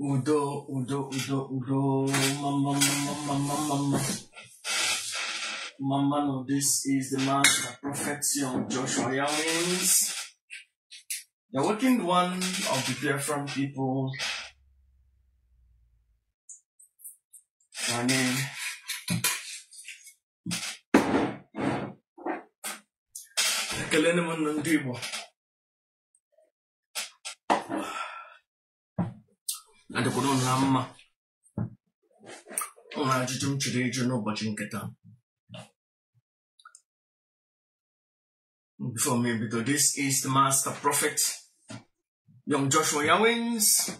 Udo, udo, udo, udo. Mama, mama, mama, mama. Mama, no, this is the man that protects you, Joshua Yawins. The working one of the different people na n'elu ekele m unu ndị Igbo adịkwuru unu mma ụlọ ajụjụ m chọrọ ịjụ unu n'ụbọchị nke taa Before me, because this is the master prophet, young Joshua Yawins,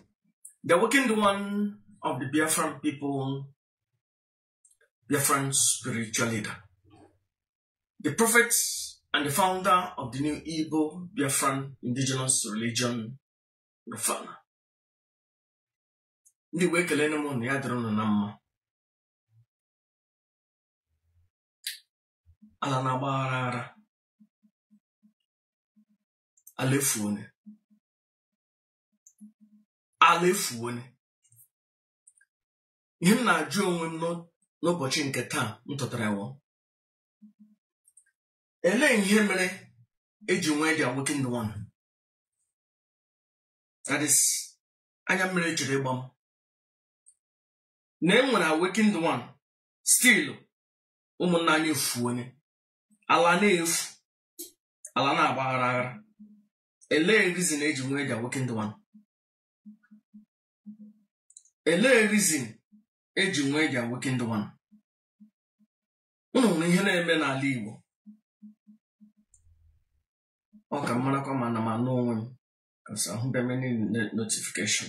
the awakened one of the Biafran people, Biafran spiritual leader, the prophet and the founder of the new Igbo Biafran indigenous religion, Rufana. ndị wee kelee m na ya dịrị unu na mma ala na-agbaghara aghara ala efuona ala efuona ihe m na-ajụ onwe m n'ụbọchị nke taa m tetara wụ elee ihe mere eji nwee the awakened one that is anya mmiri jiri ịgba m na e nwere awakened one still ụmụnna anyị efuona ala na-efu ala na-agbaghara aghara elee reason eji nwee the awakened one elee reason eji nwee the awakened one unu hụrụ ihe na-eme n'ala Igbo ọ ka m marakwa ma ana m anụ onwe m because ahụbeghị m any no- notification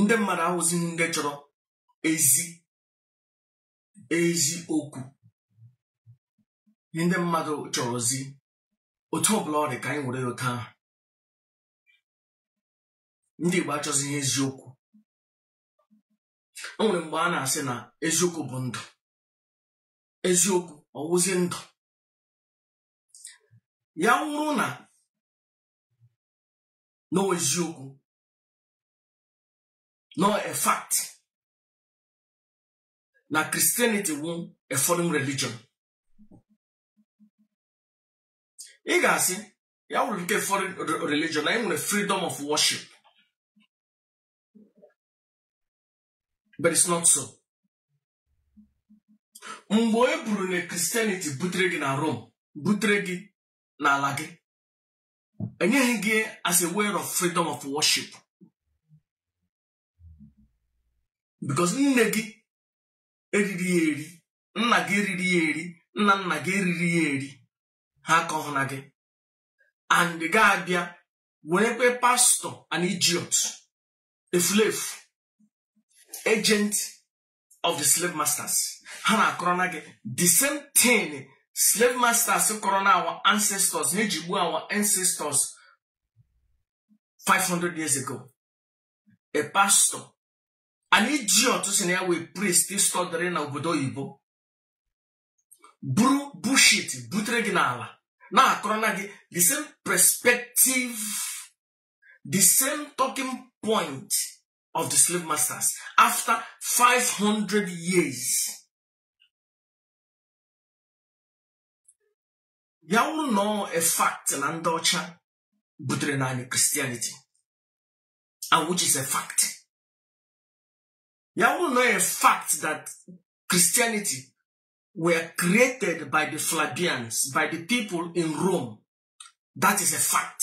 ndị mmadụ awụzighị ndị chọrọ ezi ezi okwu ndị mmadụ chọrọzi otu ọbụla ọ dị ka anyị were ya otu ahụ ndị Igbo achọzighị eziokwu o nwere mgbe a na-asị na eziokwu bụ ndụ eziokwu ọ wụzi ndụ ya wụrụ na n'eziokwu na ọ a fact na Christianity wụ a foreign religion ị ga-asị ya wụrụ nke foreign religion na e nwere freedom of worship but it's not so mgbe e buru na Christianity butere gị na Rome butere gị n'ala gị enyeghị gị as a way of freedom of worship because nne gị eriri ya eri nna gị eriri ya eri nna nna gị eriri ya eri ha akụọ ya na gị and gị abịa nwerekwe pastor an idiot efulefu agent of the slave masters ha na-akọrọ na gị the same thing slave masters kọrọ na our ancestors na-eji gbuo our ancestors 500 years ago a pastor an idiot sị na ya wụ a priest stọdịrị na obodo oyibo buru bullshit butere gị n'ala na-akọrọ na gị the same perspective the same talking point of the slave masters after 500 years ya wụrụ na ọ a fact na ndị ọcha butere na anyị Christianity and which is a fact ya wụrụ na ọ a fact that Christianity were created by the Flavians by the people in Rome that is a fact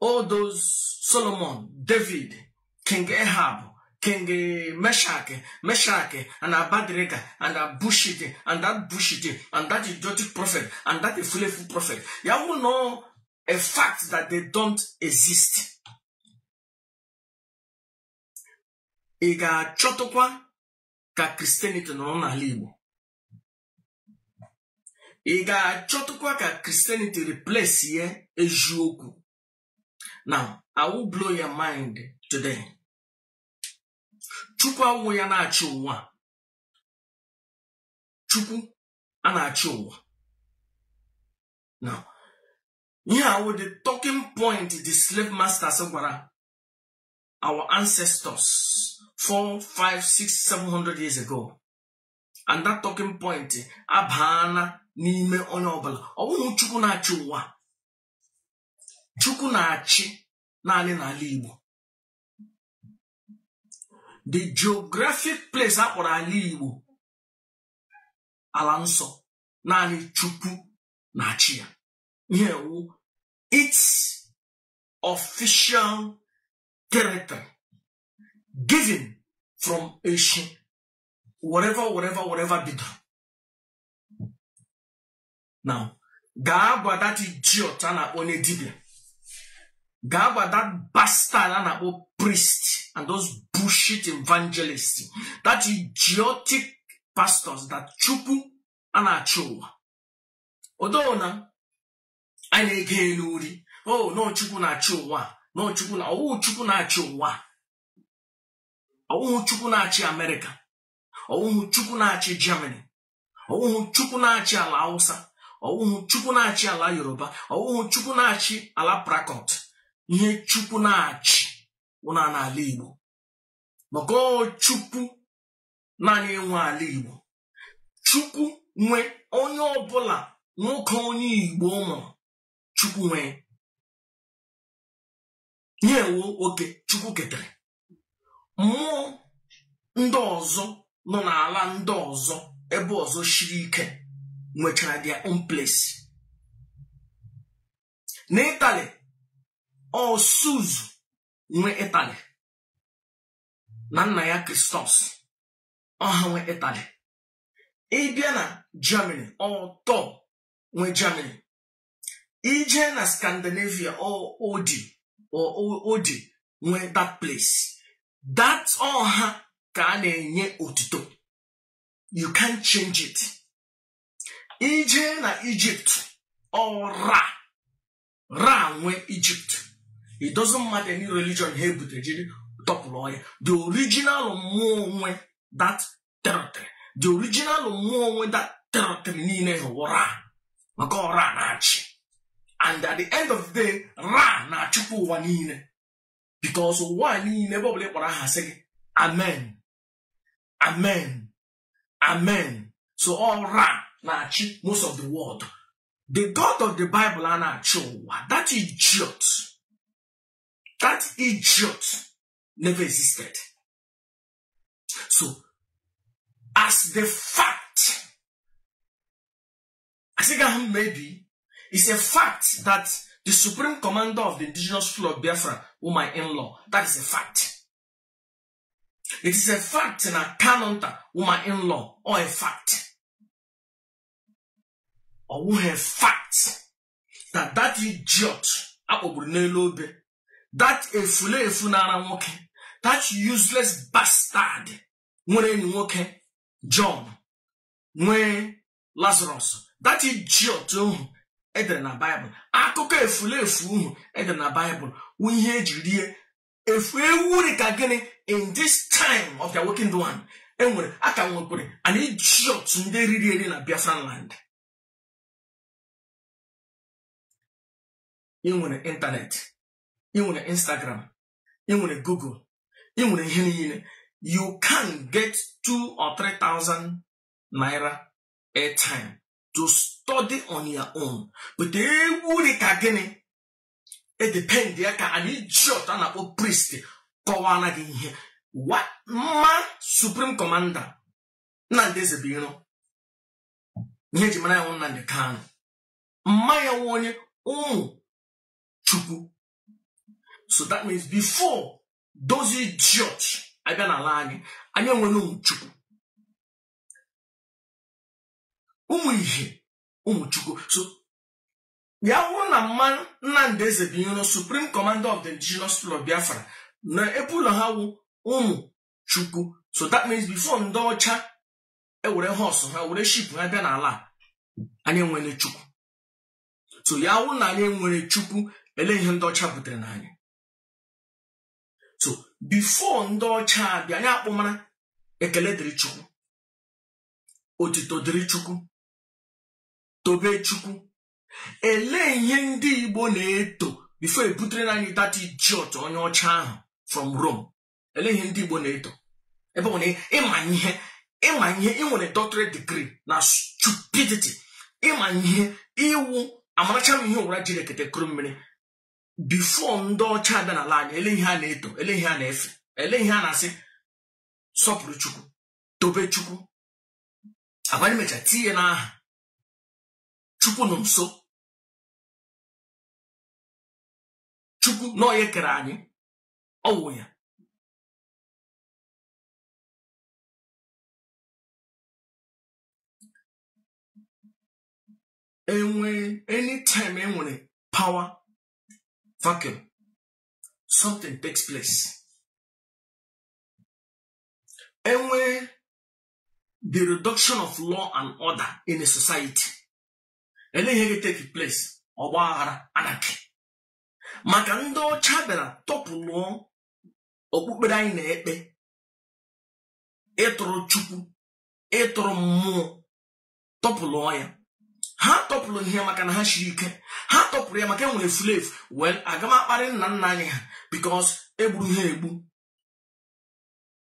all those solomon david king ahab king meshach meshach and abednego and that bullshit and that bullshit and that idiotic prophet and that efulefu prophet ya wụrụ na ọ a fact that they don't exist ị ga-achọtụkwa ka christianity nọrọ n'ala igbo ị ga-achọtụkwa ka christianity replace ya eziokwu now i will blow your mind today chukwu awụ ya na-achị ụwa chukwu a na-achị ụwa now ihe a wụ the talking point the slave masters gwara our ancestors four five six seven hundred years ago and that talking point abaana n'ime onye ọbụla ọ bụghị chukwu na-achị ụwa chukwu na-achị naanị n'ala igbo the geographic place a kpọrọ ala igbo ala nsọ naanị chukwu na-achị ya ihe a wụ its official character given from eshi whatever whatever whatever bido now gaa gwa that idiot a na-akpọ onye dibịa gaa gwa that bastard a na-akpọ priest and those bullshit evangelists that idiotic pastors that chukwu a na-achị ụwa odoo na a na-ege elu uri o oh, na ọ chukwu na-achị ụwa na ọ chukwu na ọ wụ chukwu na-achị ụwa ọ wụhụ chukwu na-achị amerịka ọ wụhụ chukwu na-achị germany ọ wụhụ chukwu na-achị ala hausa ọ wụhụ chukwu na-achị ala yoruba ọ wụhụ chukwu na-achị ala port harcourt ihe chukwu na-achị wụ naanị ala igbo maka ọ chukwu nna anyị nwe ala igbo chukwu nwe onye ọbụla nwoke onye igbo mụrụ chukwu nwe ihe wụ oke chukwu ketere mmụọ ndị ọzọ nọ n'ala ndị ọzọ ebe ọzọ shiri ike nwechara their own place n'ịtali ọ zeus nwe ịtali na nna ya kristos ọ ha nwe ịtali ị bịa na germany ọ thor nwe germany i je na Scandinavia ọ Odin ọ Odin nwe that place that ọ ha ka a na-enye otuto you can't change it i je na Egypt ọ Ra Ra nwe Egypt it doesn't matter any religion ha ebutere jiri topple ọ ya the original mmụọ nwe that territory the original mmụọ nwe that territory niile ahụ wụ Ra maka ọ Ra na-achị and at the end of the day Ra na-achịkwa ụwa niile because ụwa niile ebe ọbụla ị kpọrọ aha sị gị amen amen amen so ọ Ra na-achị most of the world the god of the bible a na-achị ụwa that idiot that idiot never existed so as the fact asịga ahụ maybe it's a fact that the supreme commander of the indigenous people of biafra who my in-law that is a fact it is a fact na kanonta who my in-law or a fact ọwụghị fact that that idiot a kpọgburu n'elu obe that efulefu na-ara nwoke that useless bastard nwere enyi nwoke John nwee Lazarus that idiot ohu e dere na Baịbụl akụkọ efulefu ohu e dere na Baịbụl wụ ihe e ji rie efu ewu dị ka gịnị in this time of the awakened one e nwere a ka nwekwere an idiot ndị riri eri na Biafran land ị nwere ịntanetị ị nwere instagram ị nwere google ị nwere ihe niile you can get two or three thousand naira airtime to study on your own but ewu dị ka gịnị edepend ya ka an idiot a na-akpọ priest kọwara gị ihe mma supreme commander Nnamdi Ezebuiro ihe eji mara ya wụ Nnamdi Kanu mma ya wụ onye ụmụ chukwu so that means before those idiot abịa n'ala anyị anyị enwere ụmụ chukwu ụmụ ihe ụmụ chukwu so ya wụrụ na mma Nnamdi Ezebuiro supreme commander of the indigenous people of Biafra na ebe ụlọ ha wụ ụmụ chukwu so that means before ndị ọcha ewere horse ha ewere ship ha bịa n'ala anyị enwere chukwu so ya wụrụ na anyị enwere chukwu ele ihe ndị ọcha butere na anyị so before ndị ọcha abịa anyị akpọmara ekele dịrị chukwu otito dịrị chukwu tobe chukwu elee ihe ndị igbo na-eto before ebutere na anyị that idiot onye ọcha ahụ from Rome ele ihe ndị Igbo na-eto ebe ọ wụ na ịma ihe ịma ihe ị nwere doctorate degree na stupidity ịma ihe ị wụ amaracha m ihe ụwa jiri ekete kuru mmiri before ndị ọcha abịa n'ala anyị ele ihe a na-eto ele ihe a na-efe ele ihe a na-asị sọpụrụ chukwu tobe chukwu a bịa mecha tinye n'aha chukwu nọ nso chukwu na onye kere anyị ọ wụ ya enwe anytime enwere power vacuum something takes place enwee the reduction of law and order in a society ele ihe ga take place ọgba aghara anarchy maka ndị ọcha bịara tọpụlụọ okpukpere anyị na-ekpe ịtụrụ chukwu ịtụrụ mmụọ tọpụlụọ ya ha topple ihe a maka na ha shiri ike ha topple ya maka enwere fulefu well aga m akparị nna nna anyị ha because egburu ha egbu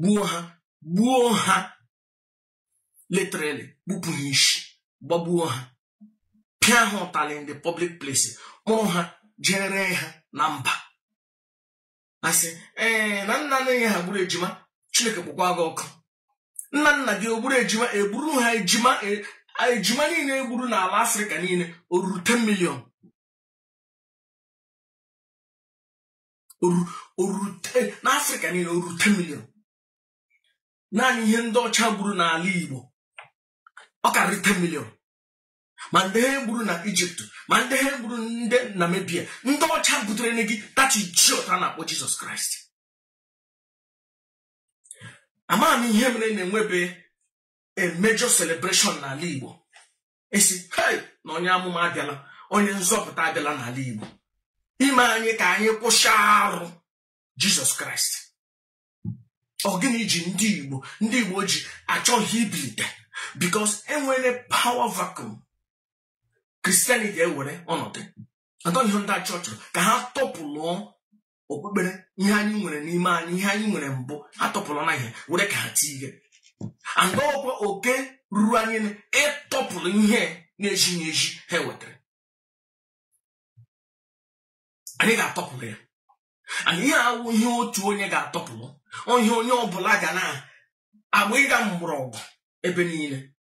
gbuo ha gbuo ha literally gbupụ ha ishi gbagbuo ha pịa ha ụtalị in the public place kpụrụ ha je ree ha na mba asị ee na nna nna anyị ha gburu ejima chineke kpọkwa gị ọkụ nna nna gị ogburu ejima egburu ha ejima e, ejima niile egburu n'ala afrịka niile o ruru 10 million orute n'afrịka niile oru 10 milion naanị ihe ndị ọcha gburu n'ala igbo ọ karịrị 10 milion ma ndị ha gburu na ijipt ma ndị ha gburu ndị namibia ndị ọcha butere gị that idiot a na-akpọ jizọs kraịst amaghị m ihe mere na-enwebe a major celebration n'ala igbo a sị hei na onye amụma abịala onye nzọpụta abịala n'ala Igbo ime anyị ka anyị kwụsị arụ Jizọs Kraịst ọ gịnị ji ndị Igbo ndị Igbo ji achọghị ibilite because enwere power vacuum Christianity ewere ọnọdụ atọ ihe ndị ọcha chọrọ ka ha tọpụlụọ okpukpere ihe anyị nwere n'ime anyị ihe anyị nwere mbụ ha tọpụlụ na ihe were ka ha tie ihe aga ọkwa oke ruru anyị ịtọpụlụ ihe na-ezighị ezi ha wetara anyị ga-atọpụlụ ya and ihe awụ ihe otu onye ga-atọpụlụ onye onye ọbụla ga na-agba ịga mgbọrọgwụ ebe niile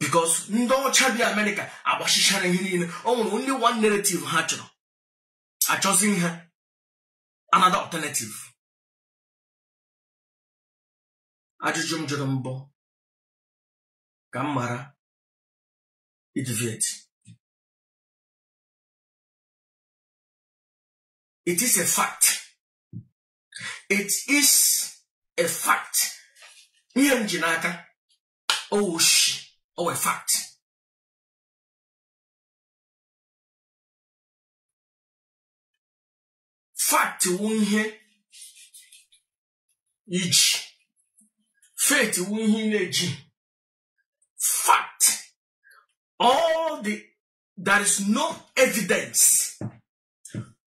because ndị ọcha bi amerịka agbachichara ihe niile o nwere only one narrative ha chọrọ achọzi ihe another alternative ajụjụ m jụrụ mbụ ka m ghara ideviate it is a fact it is a fact ihe m ji n'aka ọ wụshi ọ wụ fact fact wụ ihe i ji faith wụ ihe na-eji fact all the there is no evidence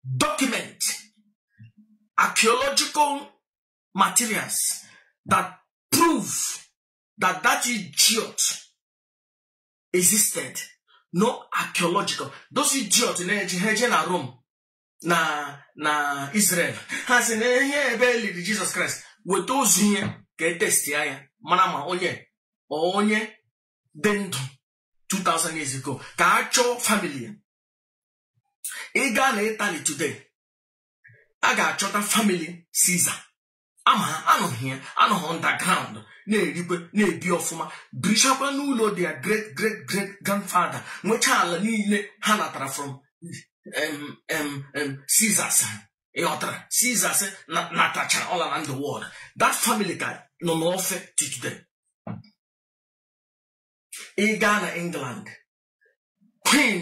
document archaeological materials that prove that that idiot existed no archaeological those idiot na-eji ha eje na Rome na na Israel ha sị na ihe ebe e liri Jesus Christ weta ozu ya ka e testi ya mara ma onye onye dị ndụ 2000 years ago ka a chọọ family ị gaa na Italy today a ga-achọta famili Caesar ama ha anọghị ya anọghị underground na-erikwe na-ebi ọfụma birichakwa n'ụlọ their great great great grandfather nwechaa ala niile ha natara from Caesars ị ghọtara Caesars natacha all around the world that family ka nọ n'ofe till today ị gaa na England queen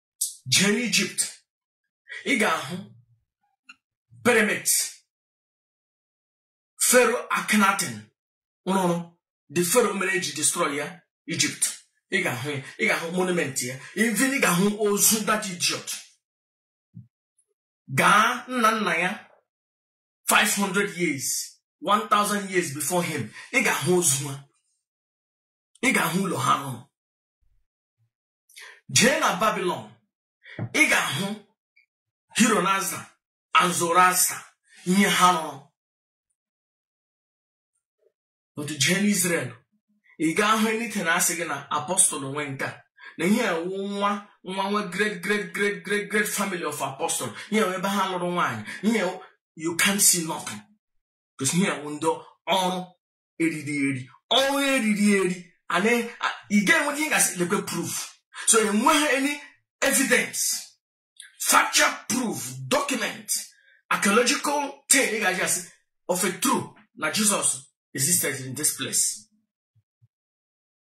jee n'ijipt ị ga-ahụ pyramid fero akhenaten rụrụ the fero mere eji destroy ya ijipt ị ga-ahụ ya ị ga-ahụ monument ya even ị ga-ahụ ozu that idiot gaa nna nna ya 500 years 1000 years before him ị ga-ahụ ozu ha ị ga-ahụ ụlọ ha rụrụ jee na babilon ị ga-ahụ Ahura Mazda and Zoroaster ihe ha rụrụ otu jee n'izrel ị gaa ahụ anything na-asị gị na apostle nwe nke a na ihe a wụ nwa nwa nwa great great great great great family of apostle ihe a wụ ebe ha lụrụ nwaanyị ihe you can't see nothing because ihe a wụ ndị ọrụ eriri eri ọ wụ eriri eri ana ị ga-enwe ihe ga-asị lekwe proof so enweghị any evidence factual proof document archaeological thing ị ga-eji asị of a truth na Jesus existed in this place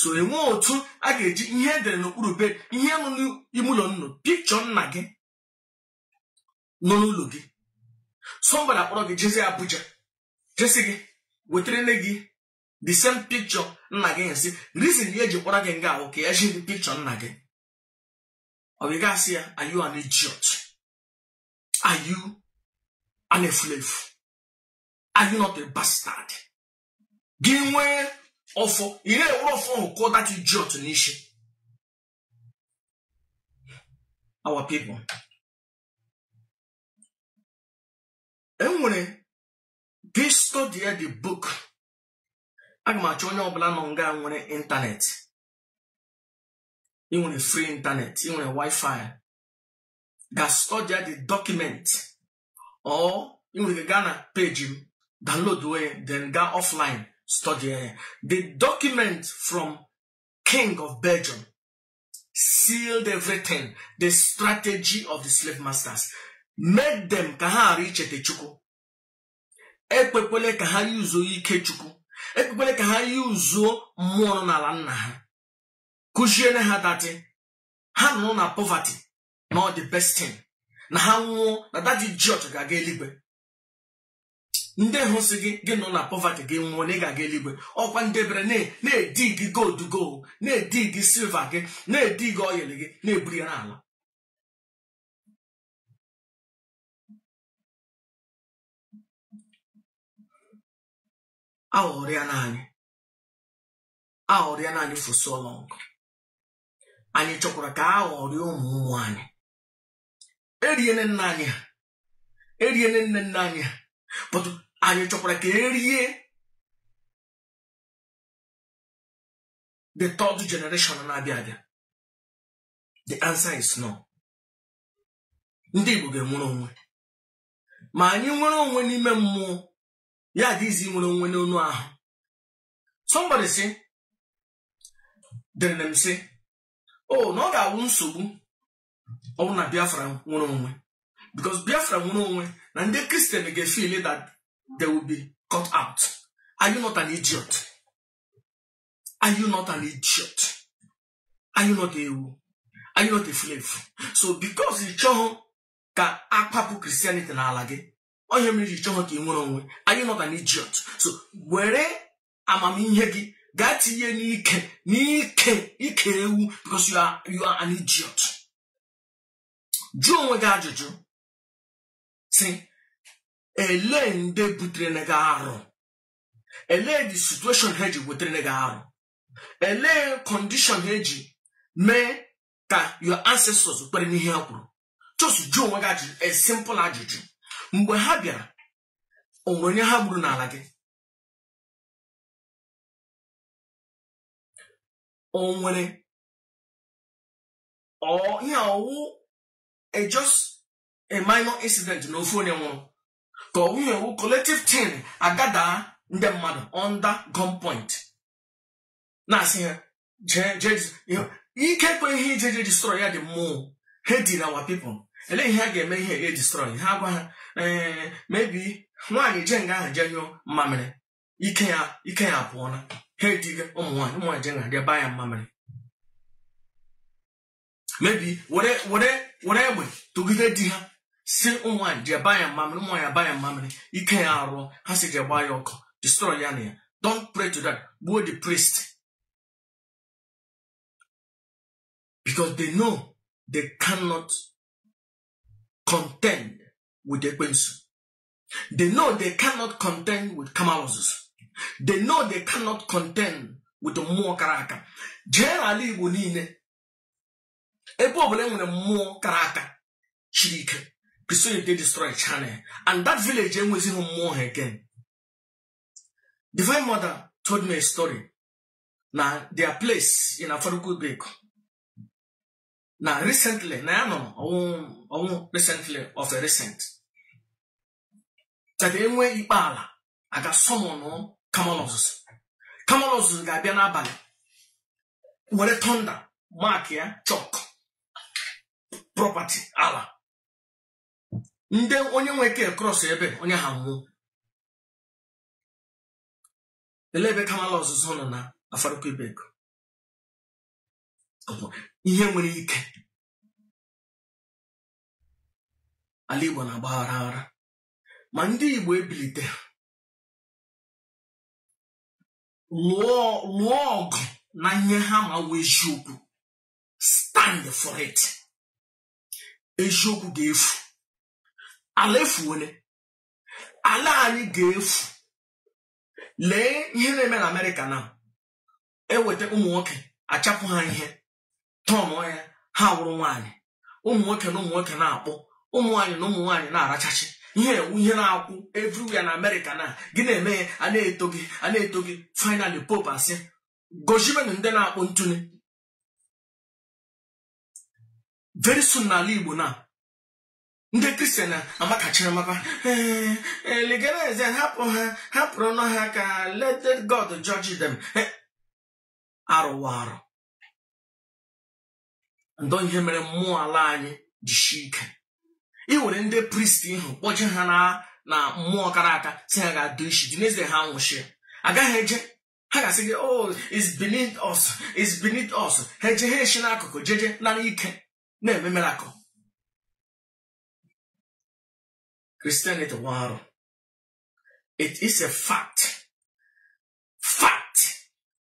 so enwe otu a ga-eji ihe edere n'okpuru bed ihe nọ n'ime ụlọ unu picture nna gị nọ n'ụlọ gị somebody akpọrọ gị jezi Abuja je sị gị wetara nne gị the same picture nna gị asị reason ya eji kpọrọ gị nga ahụ ka ya zi gị picture nna gị ọ bụ ị ga-asị ya are you an idiot are you an efulefu are you not a bastard gị nwee ọfọ ị na-ewere ọfọ ahụ kụọ that idiot n'isi our people enwere gị study the book aga m achọ onye ọbụla nọ nga a nwere ịntanetị ị nwere free ịntanetị ị nwere wifi gaa study the document or ị nwere ike gaa na page m download ya then gaa offline study ya the document from king of belgium sealed everything the strategy of the slave masters made them ka ha ghara icheta chukwu ekwekwele ka ha yuzuo ike chukwu ekwekwele ka ha yuzuo mmụọ nọ n'ala nna ha kụziere ha that ha nọrọ na poverty na ọ the best thing na ha nwụọ na that idiot ga-aga eluigwe ndị ahụ sị gị gị nọ na poverty gị nwụọ na ị ga-aga eluigwe ọkwa ndị bịara na-edigi gold gị na-edigi silver gị na-edigi oil gị na-eburu ya na-ala aghọrịana anyị aghọrịana anyị for so long anyị chọkwara ka a ghọrịa ụmụ ụmụ anyị eriene nna anyị ha eriene nne nne anyị ha but anyị chọkwara ka e rie the third generation na-abịa abịa the answer is no ndị Igbo ga-enwere onwe ma anyị nwere onwe n'ime mmụọ ya adị easy inwere onwe n'anụ ahụ somebody sị deere m sị o oh, na ọ ga-awụ nsogbu ọ bụrụ na biafra nwere onwe because biafra nwere onwe na ndị christian ga-efeel that they will be cut out are you not an idiot are you not an idiot are you not ewu are you not a slave so because ị chọghị ka a kwapụ christianity n'ala gị ọ ihe mere i ji chọghị ka ị nwere onwe are you not an idiot so were amamihe gị gaa tinye n'ike n'ike ike ewu because you are, you are an idiot jụọ onwe gị ajụjụ sị ele ndị butere gị arụ ele the situation ha ji wetere gị arụ ele condition ha ji mee ka your ancestors kwere n'ihe ha kwuru just jụọ onwe gị ajụjụ a simple ajụjụ mgbe ha bịara o nwere onye ha gburu n'ala gị o nwere ihe ọ wụ a just a minor incident na ofu onye nwụrụ ka ọ wụ ihe ọ wụ collective thing a gather ndị mmadụ under gunpoint na-asị ha jee jee ikekwe ihe ije je destroy ya dị mmụọ ha did our people elee ihe a ga-eme ihe ga destroy ha a gwa ha ee maybe nwaanyị je nga ahụ jee nyụọ mmamịrị ike ya ike ya apụọla ha ediga ụmụ nwaanyị ụmụ nwaanyị je nga ọ dị aba ya mmamịrị maybe were were were egbe tụgide di ha sị nwaanyị jee ba ya mmamịrị nwaanyị ba ya mmamịrị ike ya arụọ ha sị jee gbaa ya ọkụ destroy ya na ya don't pray to that gbuo the priest because they know they cannot contend with ekwensu they know they cannot contend with kamalụ ozuzu they know they cannot contend with mmụọ kara aka jee n'ala igbo niile ebe ọbụla e nwere mmụọ kara aka chiri ike because they destroy shrine and that village enwezighị mmụọ ha again divine mother told me a story na their place in afaraukwu ibeku na recently nna ya nwụrụ ọnwụ recently of a recent cheta e nwee ikpe ala a ga-asummon kamalu ozuzu kamalu ozuzu ga-abịa n'abalị were thunder mark ya chalk property ala ndị onye nwe ke cross ebe onye ahụ anwụọ lee ebe kamalu ozuzu nọ na afaraukwu ibeku ihe nwere ike ala Igbo na-agba aghara aghara ma ndị Igbo ebilite lụọ lụọ ọgụ na ihe ha ma wụ eziokwu stand for it eziokwu ga-efu ala efuwele ala anyị ga-efu lee ihe na-eme na Amerịka na e weta ụmụ nwoke achapụ ha ihe tọnụọ ya ha awụrụ nwaanyị ụmụ nwoke na ụmụ nwoke na-akpụ ụmụ nwaanyị na ụmụ nwaanyị na-arachachi ihe ewu ihe na-akwụ everywhere na amerịka na gị na-eme ya a na-eto gị a na-eto gị finally pope asị gozibenụ ndị na-akpọ ntụ na very soon n'ala igbo na ndị kristian amakachiri maka "Eh, eh, legalize ya, hapụ ha hapụrụnụ ha ka let let god judge them Eh, arụwa arụ and ọ ihe mere mmụọ ala anyị jishi ike ị nwere ndị priest ị hụ kpọje ha na na mmụọ kara aka sị ha gaa dụọ isi dị n'ezie ha nwụchie agaghị eje ha ga-asị gị oh it's beneath us it's beneath us ha eje ha eshi n'akụkụ jeje nara ike na-eme miracle it is a fact fact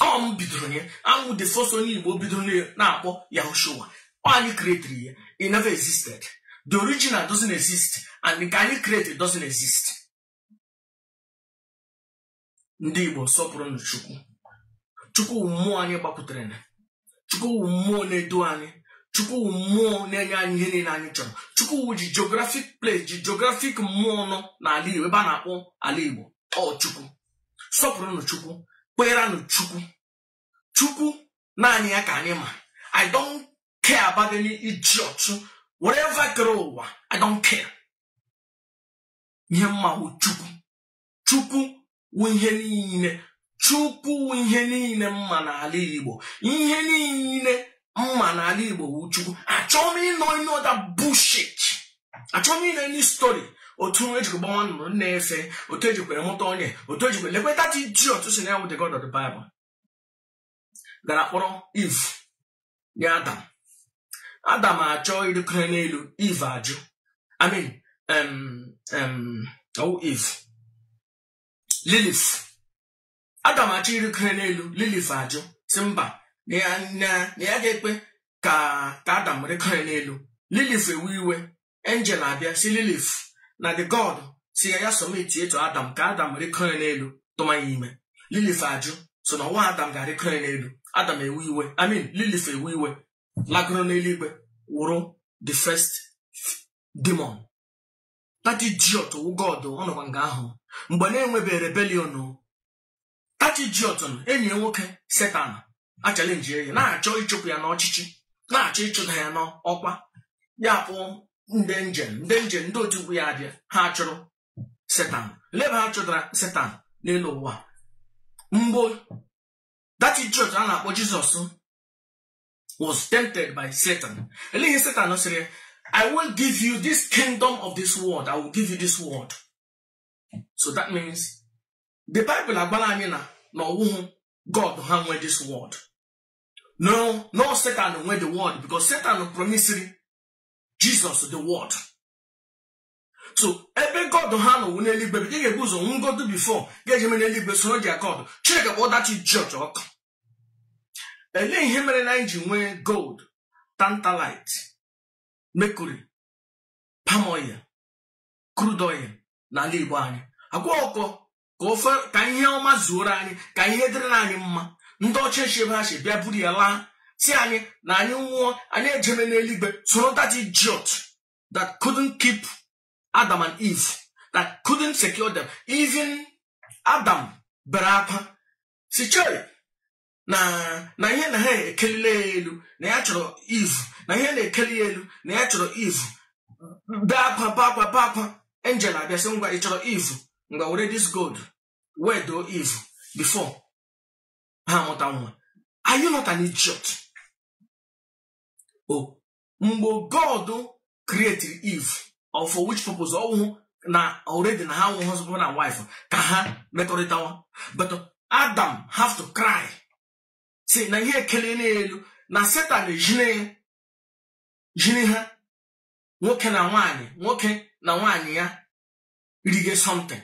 ọ m bidoro ya awụ m the first onye igbo bidoro na-akpọ yahushua ọ anyị creatiri ya it never existed the original doesn't exist and nke anyị creatiri doesn't exist ndị igbo sọpụrụnụ chukwu chukwu wụ mmụọ anyị gbakwutere na chukwu wụ mmụọ na-edu anyị chukwu wụ mmụọ na-enye anyị ihe niile anyị chọrọ chukwu wụ ji geographic place ji geographic mmụọ nọ n'ala igbo ebe a na-akpọ ala igbo ọ chukwu sọpụrụnụ chukwu kpeeranụ chukwu chukwu naanị ya ka anyị ma i don't care about any idiot whatever kere ụwa i don't care ihe m ma wụ chukwu chukwu wụ ihe niile chukwu wụ ihe niile m ma n'ala igbo ihe niile m ma n'ala igbo wụ chukwu achọọ m ịnụ any other bullshit achọọ m ịnụ any story otu e jikwa gbanwa nnụnụ na-efe otu e jikwere mụta onye otu e jikwere lekweta the idiot sị na ya wụ the god of the bible gara kpọrọ eve nye adam adam achọọ ịrịkọrọ n'elu eve ajụ i mean ọwụ eve lilith adam achọ ịrịkọrọ n'elu lilith ajụ sị mba na ya ga-ekwe ka adam rịkọrọ n'elu lilith ewe iwe angel abịa sị lilith na the god sị ya ya submit to adam ka adam rịkọ ya n'elu tụma ya ime lilith ajụ so na nwa adam ga-arịkọ ya n'elu adam ewu iwe i mean lilith ewu iwe lagoro n'eluigwe wụrụ the first demon that idiot wụ god ọ nọkwa nga ahụ mgbe na-enwebeghị rebellion that idiot enyi ya nwoke setan achallenge ya na-achọ ịchụpụ ya n'ọchịchị na-achọ ịchụta ya n'ọkwa ya pụọ ndị angel ndị angel ndị otimkpu ya abịa ha chụrụ setan lee ebe ha chụtara setan n'elu ụwa mgbe that idiot a na-akpọ jizọs was tempted by satan ele ihe setan sịrị ya i will give you this kingdom of this world i will give you this world so that means the bible agwala anyị na na ọwụhụ god ha nwe this world na na ọ satan nwe the world because satan promisiri jesus the world so ebe god ha nọ wụ n'eluigwe ị ga-ebu ụzọ nwụgodu before gị ejeme n'eluigwe soro their god chineke kpọọ that church ọkụ elee ihe mere na anyị ji nwee gold tantalite mercury palm oil crude oil n'ala Igbo anyị agwa ọkọ ka ofe ka ihe ọma zuoro anyị ka ihe dịrị anyị mma ndị ọcha esi ebe ha si bịa buru ya laa sị anyị na anyị nwụọ anyị ejeme n'eluigwe soro that idiot that couldn't keep Adam and Eve that couldn't secure them even Adam bere akwa si chere na na ihe na ha ekelile ya elu na ya chọrọ eve na ihe na-ekeli ya elu na ya chọrọ eve bee akwa bee akwa bee akwa angel abịa sị ngwa ị chọrọ eve ngwa were this gold wedoo eve before ha amụta nwa are you not an idiot o mgbe god created eve or for which purpose ọwụhụ na already na ha wụ husband and wife ka ha mekọrịtawa but adam have to cry sị na ihe ekeliela ya elu na setan ejine jiri ha nwoke na nwaanyị nwoke na nwaanyị ya rige something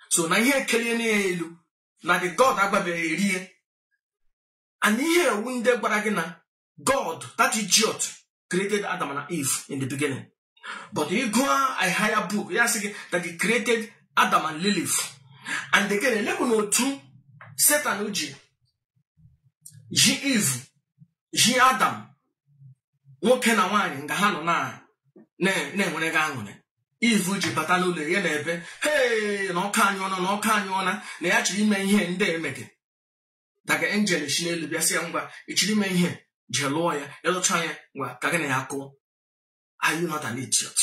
so na ihe ekeliela ya elu na the god agbabeghị erie and ihe ewu ndị gwara gị na God, that idiot, created Adam and Eve in the beginning. But ị gụọ a higher book, ya asị gị that he created Adam and Lilith. And again, elekwanụ otu Satan ji ji Eve, ji Adam, nwoke na nwaanyị nga ha nọ na-enwere gị aṅụrị Eve ji bata n'ụlọ ya na-ebe hee na ọka anyụọna na ọka anyụọna na ya chọrọ ime ihe ndị emege daga angel si n'elu bịa sị ya ngwa ị chọrọ ime ihe jee lụọ ya ị lụchaa ya ngwa ka gị na ya kụọ are you not an idiot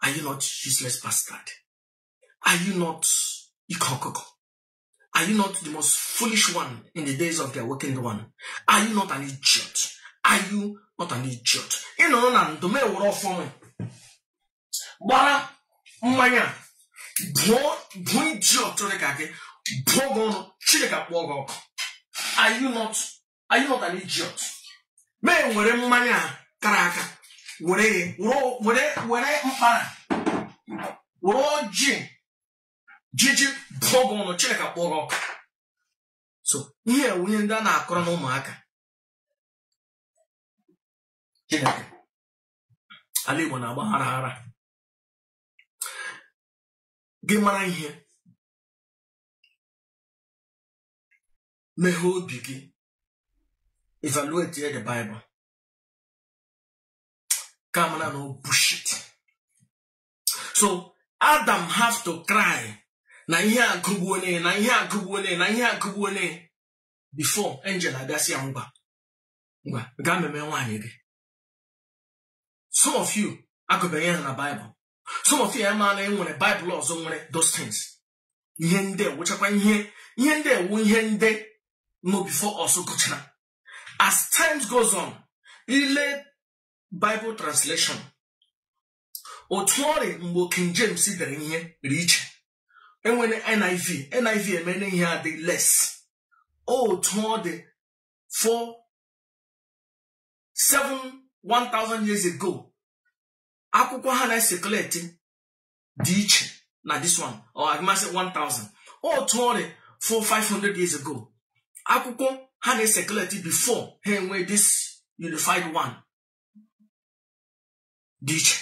are you not useless bastard are you not ike ọkụkọ are you not the most foolish one in the days of the awakened one are you not an idiot are you not an idiot ị nọrọ na ndụ m ewere ọfọ gbara mmanya bụọ bụ iji ọtụrụ ka gị bụọ gị ọnụ chineke akpụọ gị ọkụ are you not are you not an idiot m ewere mmanya a kara aka were ya were- were were mkpara were ọjị jiji bụọ gị ọnụ chineke akpụọ gị ọkụ so ihe a wụ ihe ndị a na-akọrọ n'ụmụaka chineke ala Igbo na-agbagharaghara gị mara ihe meghee obi gị evaluate the Bible ka a mara na ọ bullshit so Adam have to cry na ihe agụgbuo na ihe agụgbuo na ihe agụgbuo before angel abịa sị ya ngwa ngwa gaa meme nwaanyị gị some of you agụbeghị ya na baịbụl some of you amaghị na e nwere baịbụl ọzọ nwere those things ihe ndị a wụchakwa ihe ihe ndị a wụ ihe ndị nọ before ọsọ gụchara as times goes on i lee bible translation otu ọ rị mgbe King James dere ihe dị iche e nwere NIV NIV emere ihe adị less otu ọ dị for say one thousand years ago akwụkwọ ha na-ecirculate dị iche na this one or agmasị 1000 otu ọ rị for 500 years ago akwụkwọ ha na-ecirculate before ha enwee this unified one dị iche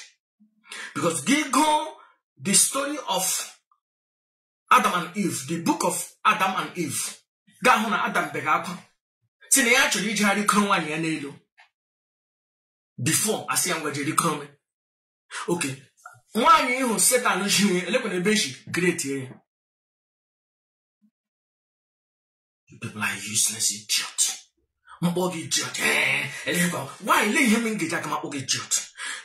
because gị gụọ the story of adam and eve the book of adam and eve ga-ahụ na adam bega akwa sị na ya chọrọ ije rịkoro nwaanyị ya n'elu before a sị ya ngwa jee rịkoro okay nwaanyị ahụ satan ji elekwana ebe e si create ya You people are useless idiot. M kpọọ gị idiot. Ee, elekwa, nwaanyị lee ihe m ga-eji aka m akpọ gị idiot.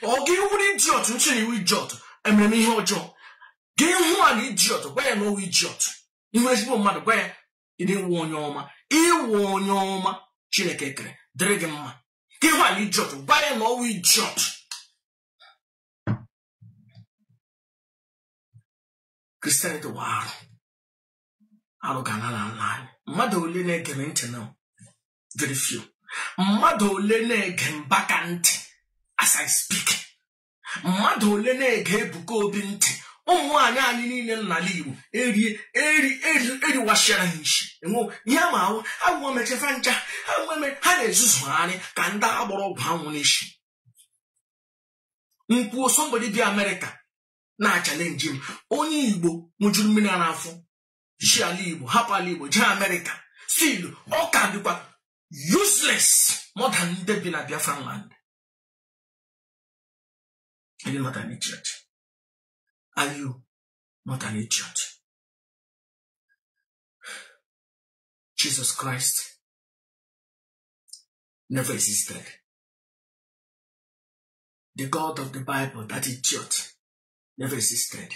Ọ gị wụrụ idiot m sị na ị wụ idiot. Emere m ihe ọjọọ. Gị hụ an idiot, gwa ya na ọ wụ idiot. Ị hụ ezigbo mmadụ gwa ya ị wụ onye ọma. Ị wụ onye ọma Chineke kere dịrị gị mma. Gị hụ an idiot, gwa ya na ọ wụ idiot. Christianity wụ arụ. arụ ga na n'ala anyị mmadụ ole na-ege m ntị na very few mmadụ ole na-ege Mbaka ntị as I speak mmadụ ole na-ege Ebuka Obi ntị ụmụ nwaanyị anyị niile n'ala Igbo erie eri eri eriwachara ha isi enwe ihe ma awụ agwọ mechefe ncha ha nweme ha na-ezuzugharị ka ndị a gbọrọ ọgwụ anwụ n'isi m kwuo somebody bi Amerịka na-achalenji m onye igbo ṅụjuru mmiri a n'afọ si ala igbo hapụ ala igbo jee amerịka still ọ ka dịkwa useless more than ndị bi na biafran land Are you not an idiot? Are you not an idiot? Jesus Christ never existed. the God of the Bible that idiot never existed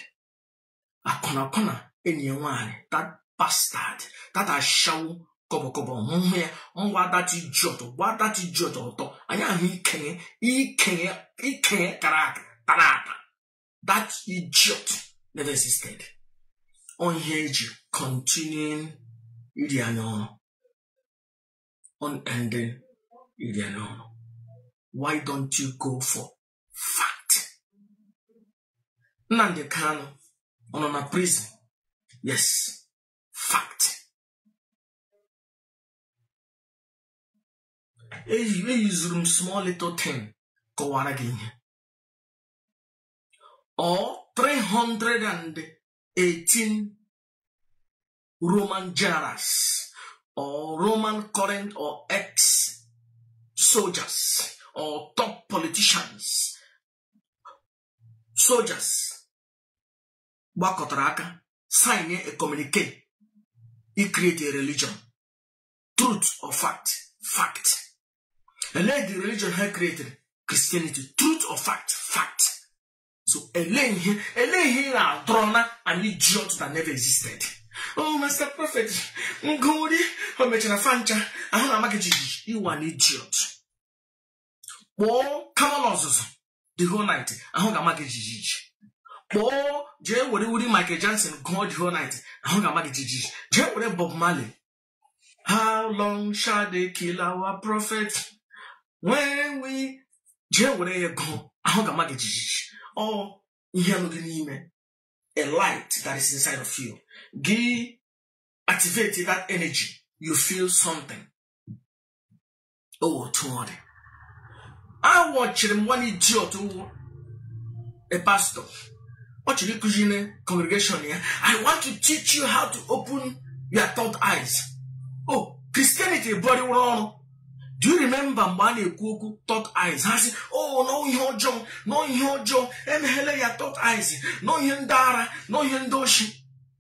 akwụna akwụna enyi ya nwaanyị that bastard that ashawo kọbọkọbọ hụhụ ya ngwa that idiot gwa that idiot ọtọ anyị ahụ ikenye ikenye ikenye kara aka tara ata that idiot never existed onye e ji continuing iri anya ọrụ unending iri n'ọnụ why don't you go for fact Nnamdi Kanu ọ nọ na prison yes fact eyuzuru m small little thing kọwaara gị ihe or 318 roman generals or roman current or ex soldiers or top politicians soldiers gbakọtara aka sign a communicate i create a religion truth or fact fact elee the religion ha created christianity truth or fact fact so elee ihe elee ihe ị na-adọrọ na an idiot that never existed oh master prophet m gụ wuri o mechara fa ncha ahụ na-ama gị jijiji ị wụ an idiot kpọọ Kamanụ Ọzụzụ the whole night ahụ ga-ama gị jijiji kpọọ jee were wuri Michael Jackson gụọ the whole night ahụ ga-ama gị jijiji jee were Bob Marley How long shall they kill our prophet? When we jee were ya gụọ ahụ ga-ama gị jijiji ọ ihe nọ gị n'ime a light that is inside of you gị activate that energy you feel something otu ọ dị awatchiri m one idiot wụ a pastor ọ chọrọ ịkụzi na congregation ya i want to teach you how to open your third eyes oh christianity bụrịwụrụ ọrụ do you remember mgbe a na-ekwu okwu third eyes ha sị oh n'ọ ihe ọjọọ n'ọ ihe ọjọọ emeghela your third eyes n'ọ ihe ndị ara n'ọ ihe ndị oshi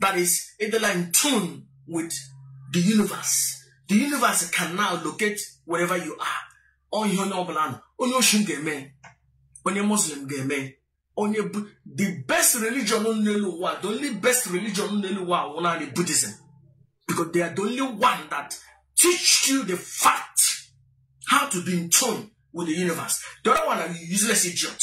that is ị dịla in tune with the universe the universe can now locate wherever you are ọ ihe onye ọbụla nọ onye oshi ga-eme onye muslim ga-eme onye the best religion n'elu ụwa the only best religion n'elu ụwa wụ naanị buddhism because they are the only one that teach you the fact how to be in tune with the universe the other one are useless idiot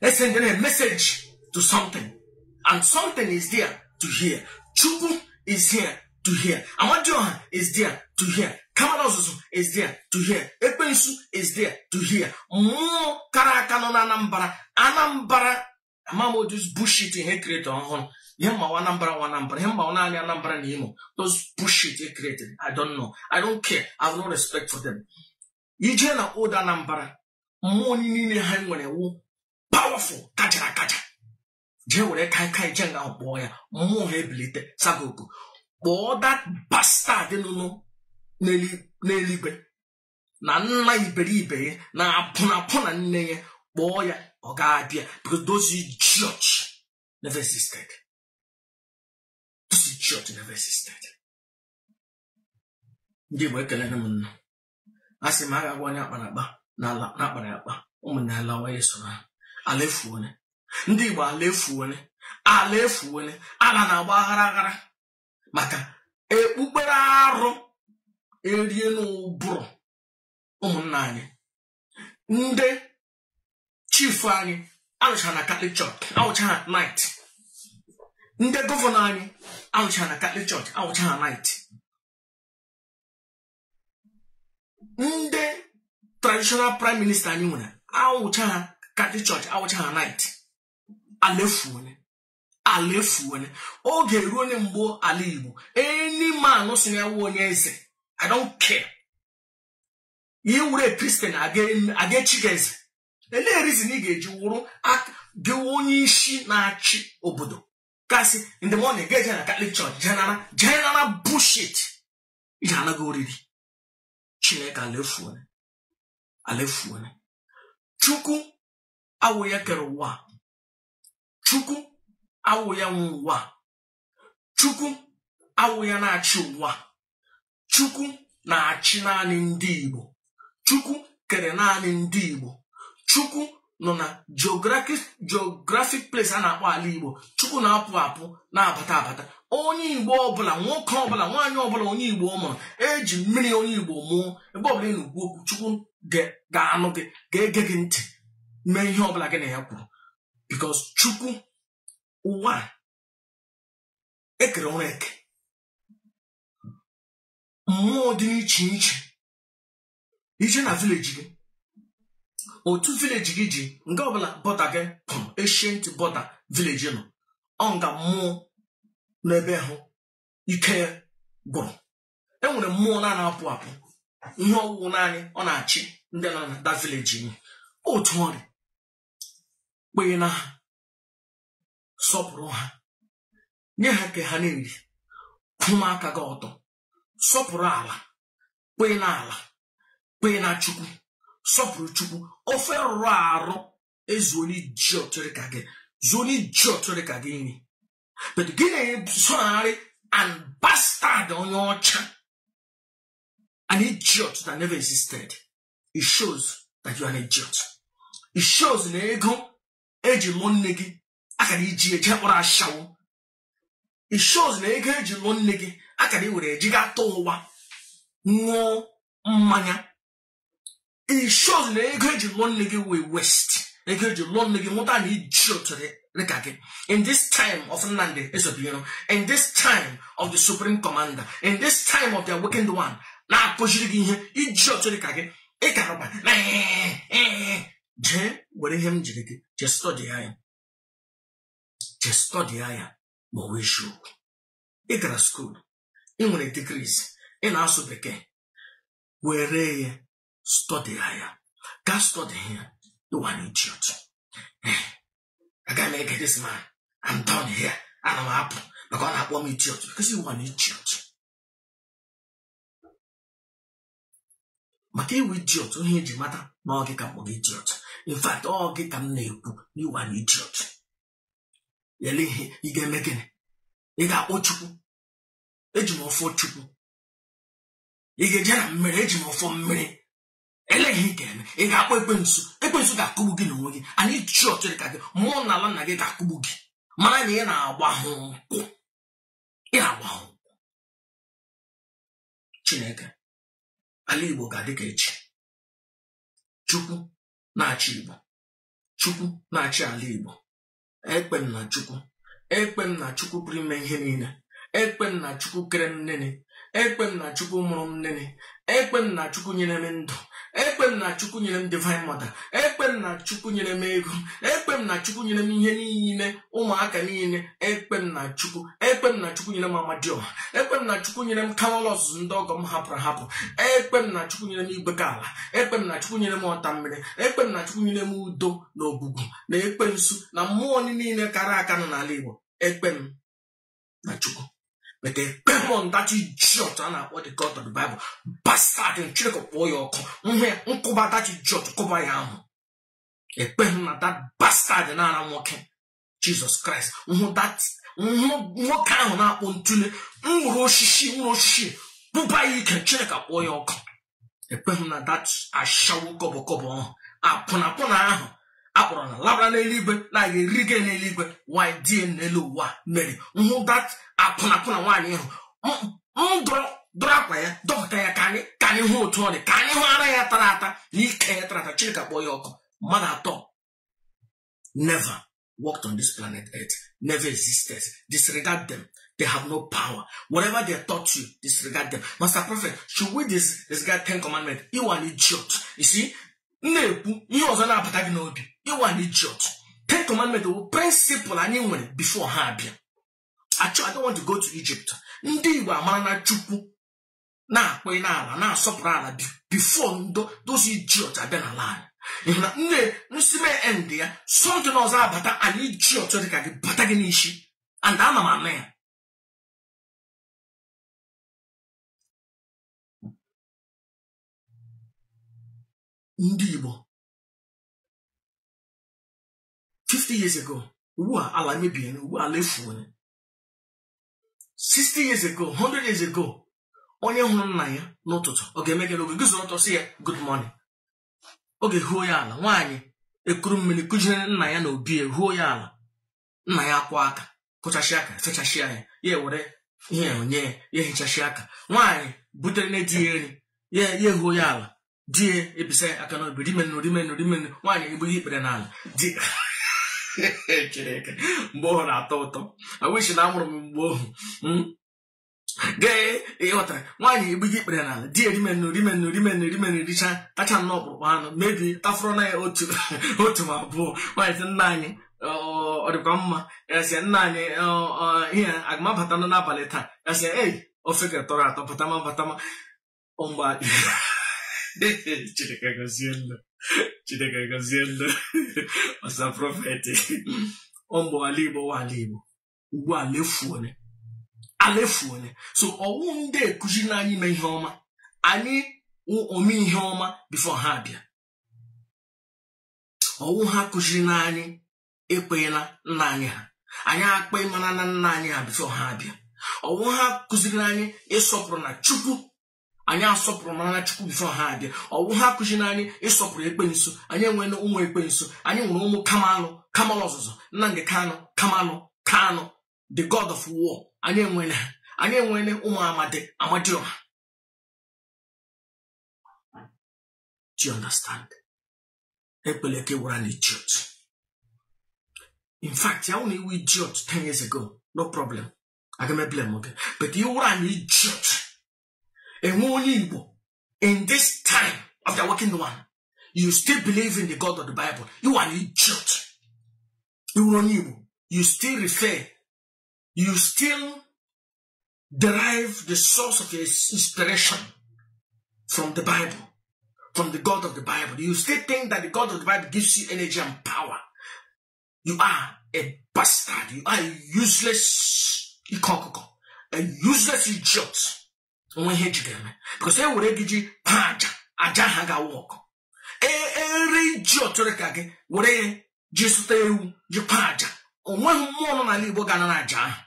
esendere a message to something and something is there to hear chukwu is here to hear amadioha is there to hear kamanu ozuzu is there to hear ekwensu is there to hear mmụọ kara aka nọ na anambra anambra amaghị m those bullshit e create ọhụrụ ihe m ma wụ anambra wụ anambra ihe m ma wụ naanị anambra na imo those bullshit they created i don't know i don't care i have no respect for them i je na old anambra mmụọ niile ha nwere wụ powerful kachara akacha jee were kai kai jee nga ahụ kpọọ ya mmụọ ha ebilite saa gị oku kpọọ that bastard nọnụ n'eluigwe na nna iberibe ya na apụnapụ na nne ya kpọọ ya ọ ga-abịa because those idiot never existed those idiot never existed ndị Igbo ekelere m unu a sị ma a ga-agwa onye akpara akpa n'ala na-akpara akpa ụmụnne ala onye so na ala efuone ndị Igbo ala efuone ala efuone ala na-agba aghara aghara maka okpukpere arụ erie n'ụbụrụ ụmụnna anyị ndị chifu anyị anọcha na katọlik chọọchị awụcha ha nait ndị gọvanọ anyị anọcha na katọlik chọọchị awụcha ha nait ndị traditional prime minister anyị nwere awụcha ha Catholic church awụcha ha knight ala efuone ala efuone ọ ga-erunụ mgbe ala Igbo any man sị na ọ wụ onye eze I don't care ị wụrụ a kristian agaghị echi gị eze elee rizin ị ga-eji wụrụ igwe onye isi na-achị obodo ka Sunday morning ga-eje na Catholic church jee nara bullshit ihe a na-aga oriri chineke alefuone alefuone chukwu awụ ya kere ụwa chukwu awụ ya nwe ụwa chukwu awụ ya na-achị ụwa chukwu na-achị naanị ndị igbo chukwu kere naanị ndị igbo chukwu nọ na geographic place a na-akpọ ala igbo chukwu na-apụ apụ na-abata abata onye igbo ọbụla nwoke ọbụla nwaanyị ọbụla onye igbo ọ mụrụ eji mmiri onye igbo mụọ ebe ọbụla ị na-ekwu okwu chukwu ga-anụ gị ga-ege gị ntị mee ihe ọbụla gị na ya kwuru because chukwu ụwa ekere ọrụ eke mmụọ dị iche iche ị jee na village gị otu village gị ji nga ọbụla border gị pụrụ ancient border village nọ ọ nga mmụọ n'ebe ahụ ike ya gwụrụ enwere mmụọ na-anaghị apụ apụ ihe ọ wụ wụ naanị ọ na-achị ndị nọ na that village otu ọ rị kwenye na ha sọpụrụ ha nye ha nke ha na-eri kwụma aka gị ọtọ sọpụrụ ala kwee na ala kwee na chukwu sọpụrụ chukwu ofe rụrụ arụ ezuona idiot rị ka gị zuona idiot rị ka gị nri but gị na-esogharị an bastard onye ọcha an idiot that never existed it shows that you are an idiot it shows na ego eji lụọ nne gị akara iji eje kpọrọ ashawo it shows na ego eji lụọ nne gị akara iwere eji ga atọ ụwa ṅụọ mmanya it shows na ego eji lụọ nne gị wụ waste ego eji lụọ nne gị mụta an idiot dịka gị in this time of Nnamdi Ezebiro in this time of the supreme commander in this time of the awakened one na-akụziri gị ihe idiot dịka gị ịkarụba na jee were ihe m jiri gị jee stọdịa ya je stọdịa ya ma ọ wụ eziokwu ị gara school ị nwere degrees ị na-asụ bekee were ya stọdịa ya ga stọdịa ya ị wụ an idiot aga m ege this man I'm done here ana m apụ maka ọ na-akpọ m idiot because ị wụ an idiot maka ị wụ idiot ihe eji mata na ọ gị ka m kpọrọ idiot in fact ọ gị ka m na-ekwu na ị wụ an idiot elee ihe ị ga-eme gịnị ị ga-akpọ chukwu eji m ọfọ chukwu ị ga-eje na mmiri eji m ọfọ mmiri elee ihe ị ga-eme ị ga-akpọ ekwensu ekwensu ga-akụgbu gị n'onwe gị an idiot rị ka gị mmụọ na ala nna gị ga-akụgbu gị mara na ị na-agba ha nkwụ ị na-agba ha nkwụ chineke ala igbo ga-adị ka echi chukwu na-achị igbo chukwu na-achị ala igbo ekwe m na chukwu ekwe m na chukwu pụrụ ime ihe niile ekwe m na chukwu kere m nene ekwe m na chukwu mụrụ m nene ekwe m na chukwu nyere m ndụ ekwe m na chukwu nyere m divine mother ekwe m na chukwu nyere m ego ekwe m na chukwu nyere m ihe niile ụmụaka niile ekwe m na chukwu ekwe m na chukwu nyere m amadioha ekwe m na chukwu nyere m kamalu ọzụzụ ndị ọgọ m hapụrụ hapụ ekwe m na chukwu nyere m igwe ka ala ekwe m na chukwu nyere m ọta mmiri ekwe m na chukwu nyere m udo na ogwugwu na ekwensu na mmụọ niile kara aka nọ n'ala igbo ekwe m na chukwu mete ekweghị m na that idiot a na-akpọ the god of the bible bastard chineke kpọọ ya ọkụ nhụ ya nkụba that idiot kụba ya ahụ ekweghị m na that bastard na-ara nwoke jizọs kraịst nhụ that nwoke ahụ na-akpọ ntụle nwụrụ osisi nwụrụ osisi bụba ya ike chineke kpọọ ya ọkụ ekweghị m na that ashawo kọbọkọbọ ahụ akwụnakwụna ahụ akpọrọ na labara n'eluigwe na-aga eri gị n'eluigwe nwanyị dị n'elu ụwa meri nhụ that akwụnakwụna nwaanyị ahụ m dụrụ dụrụ akwa ya dọpụta ya ka anyị ka anyị hụ otu ọ dị ka anyị hụ ara ya tara ata na ike ya tara ata chineke kpọọ ya ọkụ mmadụ atọ never walked on this planet earth never existed disregard them they have no power whatever they taught you disregard them master prophet should we disregard ten commandments you are an idiot you see m na-ekwu ihe ọzọ na-abata gị n'obi you are an idiot ten commandments bụ principle anyị nwere before ha abịa achọ I don't want to go to Egypt ndị Igbo amarana Chukwu na-akpọ n'ala na-asọpụrụ ala before ndị those idiot abịa n'ala anyị n'ihi na nne nsime end ya something ọzọ abata an idiot dịka gị bata gị n'isi and ana m anụ ya ndị Igbo 50 years ago ugbu a ala emebiene ugbu a ala efuo 60 years ago 100 years ago onye hụrụ nna ya n'ụtụtụ ọ ga-eme gịnị ọ ga-eguzoro ọtọ sị ya good morning ọ ga-ehuo ya ala nwaanyị ekuru mmiri kujere nna ya n'obi ya huo ya ala nna ya akwọ aka kwọchasịa aka fechasịa ya ya were ihe o nye ya hichasịa aka nwaanyị butere nna di ya nri ya ehuo ya ala di ya ebisa aka n'obi rimenụ rimenụ rimenụ nwaanyị egburu ikpere n'ala di chineke mgbe ọhụ na-atọ ụtọ I wish na amụrụ m mgbe ọhụ hmm? gee ị ghọtara nwaanyị egburu ikpere n'ala di ya rimenụ rimenụ rimenụ rimenụ richa tacha nnọọ ọkpụrụkpụ anụ maybe tafọrọ na ya otu otu ma abụọ nwaanyị sị nna anyị ọ dịkwa mma gasịa nna anyị ihe aga m abatanụ n'abalị taa gasịa ei ofe gị a tọrọ atọ batama batama ọmgba chineke gọzie ndụ chineke gọzie ndụ ọsa prophet ọmgba ala igbo wa ala igbo ugbu a lefuone alefuone so ọ wụ ndị a kuziri na anyị mee ihe ọma anyị ome ihe ọma before ha abịa ọ wụ ha kụziri na anyị ekwenye na nna anyị ha anyị ekwemara na nna anyị ha before ha abịa ọ wụ ha kụziri anyị ịsọpụrụ na chukwu anyị asọpụrụmara na chukwu before ha abịa ọ wụ ha kụziri anyị ịsọpụrụ ekwensu anyị enwere ụmụ ekwensu anyị nwere ụmụ kamalụ kamalụ ọzụzụ nnamdị kanụ kamalụ kanụ the god of war anyị enwere ha anyị enwere ụmụ amadi amadịọha do you understand ekwele ka ị wụrụ an idiot in fact ya wụna ị wụ idiot 10 years ago no problem aga m a-blame oge but ị wụrụ an idiot ị wụ onye igbo in this time of the working one you still believe in the god of the bible you are an idiot ị wụrụ onye igbo you still refer you still derive the source of your inspiration from the Bible, from the God of the Bible. You still think that the God of the Bible gives you energy and power. You are a bastard. You are a useless ikokoko, a useless idiot. O nweghị ihe e ji gị eme because e were gị ji paa aja aja ahụ aga-awork e ree idiot dị ka gị were ya ji zụta ewu ji paa aja o nweghị mmụọ nọ n'ala Igbo ga-ana na aja ahụ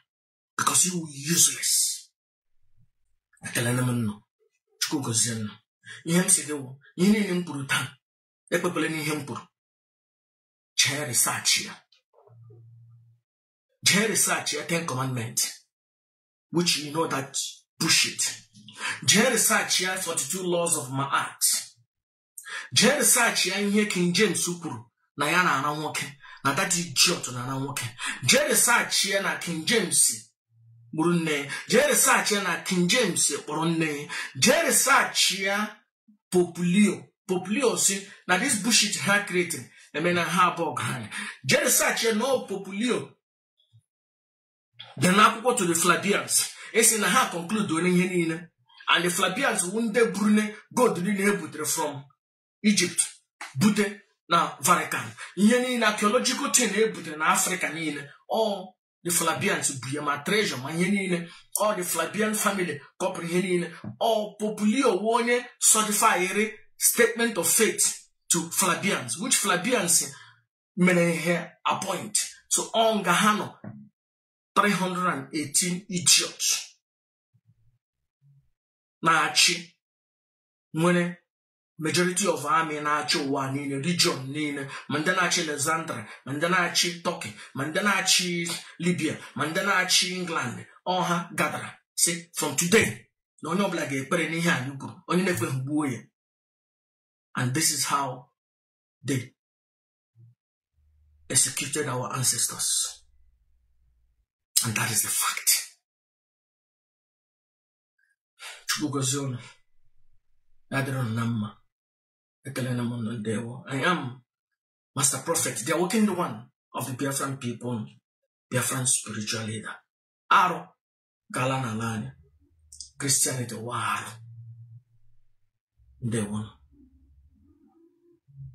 because you useless ekelena m nnụ chukwu gọzie nnụ ihe m si gị wụ ihe niile m kwuru taa ekwekwele n'ihe m kwuru jee research ya jee research ya ten commandment which you know that bullshit jee research ya 42 laws of Maat jee research ya ihe King James kwuru na ya na-ara nwoke na that idiot na-ara nwoke jee research ya na King James gburu nne ya jee research ya na King James kpọrọ nne ya jee research ya Pope Leo Pope Leo sị na this bullshit ha creating emena ha abụọ ọgaranya jee research ya na ọ Pope Leo dị n'akwụkwọ to the Flavians esi na ha concludeole ihe niile and the Flavians wu ndị burune gold niile e butere from Egypt bute na Vatican ihe niile archaeological thing e butere na Afrịka niile ọ the Flavians bu ya ma treasure ma ihe niile ọ the Flavian family kọpụrụ ihe niile ọ Pope Leo wu onye certified statement of faith to Flavians which Flavians mere ihe appoint so ọ nga ha nọ 318 idiots na-achị nwere majority of army na-achị ụwa niile region niile ma ndị na-achị Alexandria ma ndị na-achị Turkey ma ndị na-achị Libya ma ndị na-achị England ọ ha gadara sị from today na onye ọbụla ga-ekwere n'ihe anyị kwuru onye na-ekweghị gbuo ya and this is how they executed our ancestors and that is the fact chukwu gozie ụnụ ya dịrị ụnụ na mma ekelena m ụnụ ndewo i am master prophet the awakened one of the biafran people biafran spiritual leader arụ ga-ala n'ala anyị christianity wụ arụ ndewo